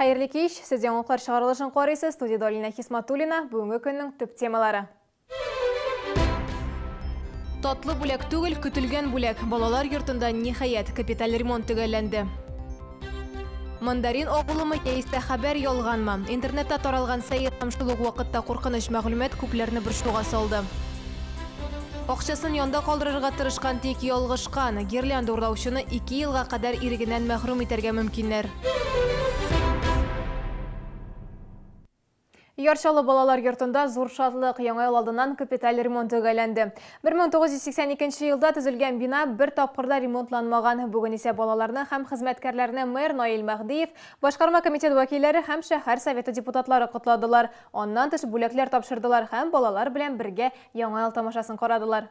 Хәерле кич! Сез яңалыклар чыгарылышын карыйсыз, студиядә Алинә Хисматуллина, бүгенге көннең төп темалары. Татлы бүләк түгел, көтелгән бүләк. Балалар йортында, ниһаять, капиталь ремонт төгәлләнде. Мандарин агулымы яисә хәбәр ялганмы? Интернетта таралган сәер һәм шул ук вакытта куркыныч мәгълүмат күпләрне борчуга салды. Акчасын янда калдырырга тырышкан, тик ялгышкан. Гирлянда урлаучыны ике елга кадәр ирегеннән мәхрүм итәргә мөмкиннәр. Яр Чаллы балалар йортында зур шатлык яңа ел алдыннан капиталь ремонт төгәлләнде. 1982 елда төзелгән бина бер тапкырда ремонтланмаган. Бүген исә балаларны һәм хезмәткәрләрне мэр Наил Мәһдиев, башкарма комитет вәкилләре һәм шәһәр советы депутатлары котладылар. Аннан тыш бүләкләр тапшырдылар һәм балалар белән бергә Яңа ел тамашасын карадылар.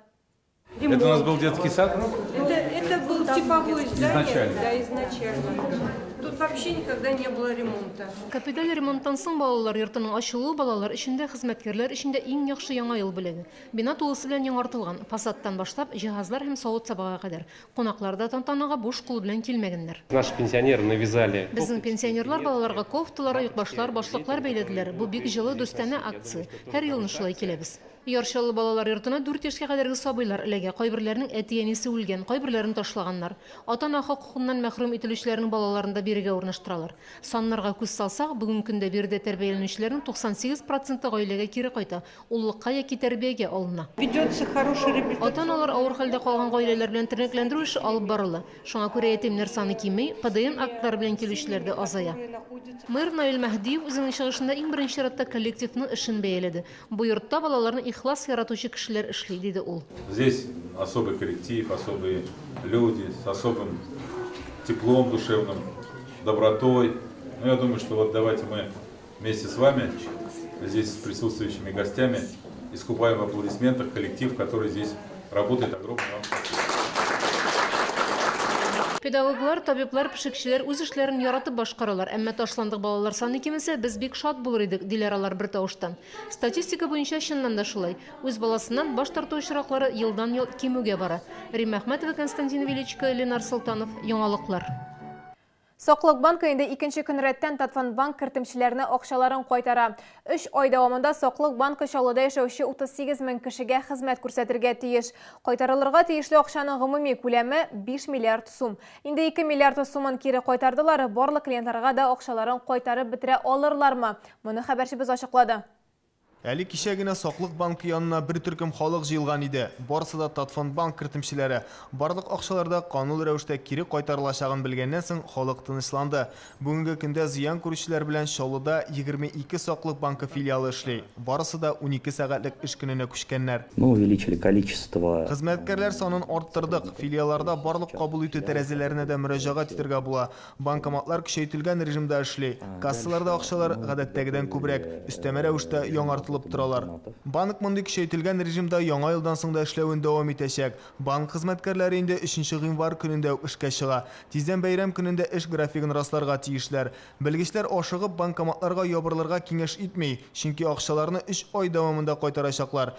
Это у нас был детский сад? Это, это был типовое здание. Изначально. Да, изначально. Тут вообще никогда не было ремонта. Капиталь ремонттан соң балалар йортының ачылуы балалар өчен дә, хезмәткәрләр өчен дә иң яхшы Яңа ел бүләге. Бина тулысы белән яңартылган, фасадтан башлап, җиһазлар һәм савыт-сабага кадәр. Кунаклар да тантанага буш кул белән килмәгәннәр. Наши пенсионеры навязали. Безнең пенсионерлар балаларга кофталар, оекбашлар, башлыклар бәйләделәр. Бу бик җылы, дустанә акция. Һәр елны шулай киләбез. Яр Чаллы балалар йортына дүрт яшькә кадәрге сабыйлар эләгә. Кайберләренең әти-әнисе үлгән, кайберләрен ташлаганнар. Ата-ана хокукыннан мәхрүм ителүчеләрнең балаларын да бирегә урнаштыралар. Саннарга күз салсак, бүгенге көндә биредә тәрбияләнүчеләрнең 98 проценты гаиләгә кире кайта, Уллыкка яки тәрбиягә алына. Ведется хороший реабилитацион. Ата-аналар авыр хәлдә калган гаиләләр белән тернәкләндерү эше алып барыла. Шуңа күрә ятимнәр саны кими, ПДН актлары белән килүчеләр дә азая. Мэр Наил Мәһдиев үзенең чыгышында иң беренче чиратта коллективның эшен бәяләде. Бу йортта балаларны ихлас яратучы кешеләр эшли, диде ул. Здесь особый коллектив, особые люди, с особым теплом душевным, добротой. Ну, я думаю, что вот давайте мы. Вместе с вами, здесь с присутствующими гостями, искупаем в аплодисментах коллектив, который здесь работает. Огромное вам спасибо. Педагоглар, табиблар, пешекчеләр үз эшләрен яратып башкаралар, әмма ташландык балалар саны кимесе, без бик шат булыр идек, диләр алар бер тавыштан. Статистика буенча чыннан да шулай. Үз баласыннан баш тарту очраклары елдан-ел кимүгә бара. Римма Әхмәтова, Константин Величко, Ленар Солтанов, Яңалыклар. Саклык банкы инде икенче көн рәттән Татфондбанк кертемчеләренә акчаларын кайтара. Өч ай дәвамында Саклык банкы Чаллыда яшәүче 38 мең кешегә хезмәт күрсәтергә тиеш. Кайтарылырга тиешле акчаның гомуми күләме, 5 миллиард сум. Инде 2 миллиард сумын кире кайтардылар, барлык клиентларга да акчаларын кайтарып бетерә алырлармы? Моны хәбәрчебез ачыклады. Әле кичә генә Саклык банкы янына бер төркем халык җыелган иде. Барысы да Татфондбанк кертемчеләре. Барлык акчалар да канун рәвештә кире кайтарылачагын белгәннән соң халык тынычланды. Бүгенге көндә зыян күрүчеләр белән Чаллыда егерме ике Саклык банкы филиалы эшли. Барысы да унике сәгатьлек эш көненә күчкәннәр. Мы увеличили количество. Хезмәткәрләр санын арттырдык. Филиалларда барлык кабул итү тәрәзәләренә дә мөрәҗәгать итәргә була. Банкоматлар көчәйтелгән режимда эшли. Кассаларда акчалар гадәттәгедән күбрәк, өстәмә рәвештә яңартылып торалар. Банк мондый көчәйтелгән режимда яңа елдан соң да эшләвен дәвам итәчәк. Банк хезмәткәрләре инде өченче гыйнвар көнендә үк эшкә чыга. Тиздән бәйрәм көнендә эш графигын расларга тиешләр. Белгечләр ашыгып банкоматларга ябырылырга киңәш итми, чөнки акчаларны өч ай дәвамында кайтарачаклар.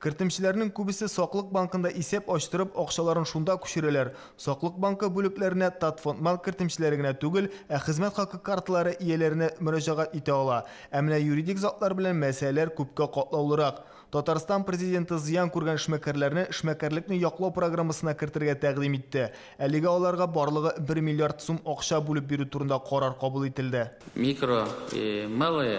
Кертемчеләрнең күбесе Саклык банкында исәп ачтырып, акчаларын шунда күчерәләр. Саклык банкы бүлекләренә Татфондмал кертемчеләре генә түгел, ә хезмәт хакы карталары ияләренә мөрәҗәгать итә ала. Ә менә юридик затлар белән мәсьәләләр күпкә катлаулырак. Татарстан Президенты зыян күргән эшмәкәрләрне эшмәкәрлекне яклау программасына кертергә тәкъдим итте. Әлегә аларга барлыгы бер миллиард сум акча бүлеп бирү турында карар кабул ителде. Микро и малые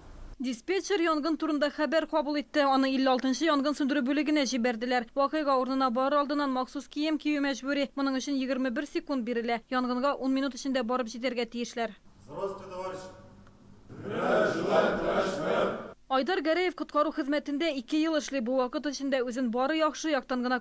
Диспетчер янгын турында хәбәр кабул итте, аны 56 нчы янгын сүндерү бүлегенә җибәрделәр. Вакыйга урынына барыр алдыннан махсус кием кию мәҗбүри, моның өчен 21 секунд бирелә. Янгынга ун минут эчендә барып җитәргә тиешләр. Айдар Гәрәев коткару хезмәтендә ике ел эшли, бу вакыт эчендә үзен бары яхшы яктан гына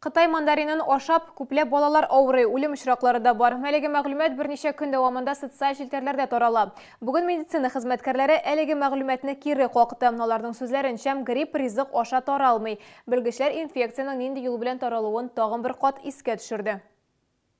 Кытай мандаринын ашап, күпләп балалар авырый, үлем очраклары да бар. Әлеге мәгълүмат берничә көн дәвамында социаль челтәрләрдә тарала. Бүген медицина хезмәткәрләре әлеге мәгълүматны кире какты. Аларның сүзләренчә, грипп ризык аша таралмый. Белгечләр инфекциянең нинди юл белән таралуын тагын бер кат искә төшерде.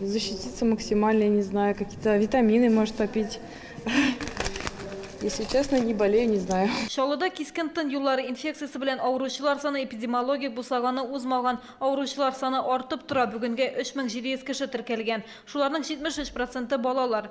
Защититься максимально, я не знаю, какие-то витамины, может, попить. Если честно, не болею, не знаю. Чаллыда кискен тын юллары инфекциясе белән авыручылар саны эпидемиологик бусаганы узмаган. Авыручылар саны артып тора. Бүгенгә 3700 кеше теркәлгән. Шуларның 73 проценты балалар.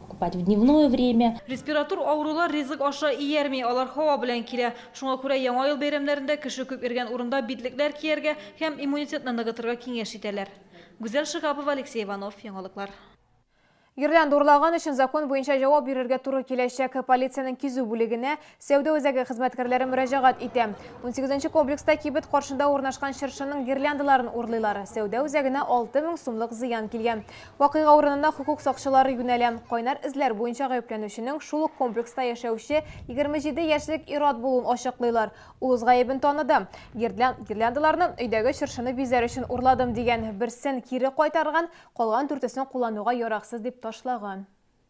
Купать в дневное время. Респиратур авырулар ризык аша иярми, алар һава белән килә. Шуңа күрә Яңа ел бәйрәмнәрендә кеше күп йөргән урында битлекләр кияргә һәм иммунитетны ныгытырга киңәш итәләр. Гүзәл Шиһапова, Алексей Иванов, Яңалыклар. Гирлянда урлаган өчен закон буенча җавап бирергә туры киләчәк. Полициянең кизү бүлегенә Сәүдә үзәге хезмәткәрләре мөрәҗәгать итә. Унсигезенче комплекста кибет каршында урнашкан чыршының гирляндаларын урлыйлар. Сәүдә үзәгенә алты мең сумлык зыян килгән. Вакыйга урынына хокук сакчылары юнәлә. Кайнар эзләр буенча гаепләнүченең шул ук комплекста яшәүче егерме җиде яшьлек ир-ат булуын ачыклыйлар. Ул үз гаебен таныды. Гирлян гирляндаларны өйдәге чыршыны бизәр өчен урладым, дигән. Берсен кире кайтарган, калган дүртесен куллануга яраксыз дип ташлаган.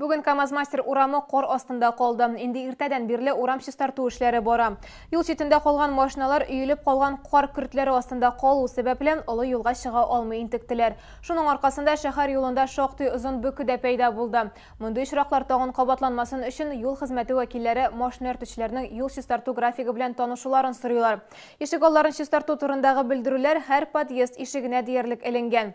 Бүген КАМАЗ-мастер урамы кар астында калды. Инде иртәдән бирле урам чистарту эшләре бара. Юл читендә калган машиналар өелеп калган кар көртләре астында калу сәбәпле, олы юлга чыга алмый интектеләр. Шуның аркасында шәһәр юлында шактый озын бөке дә пәйда булды. Мондый очраклар тагын кабатланмасын өчен юл хезмәте вәкилләре машина йөртүчеләрнең юл чистарту графигы белән танышуларын сорыйлар. Ишегалларын чистарту турындагы белдерүләр һәр подъезд ишегенә диярлек эленгән.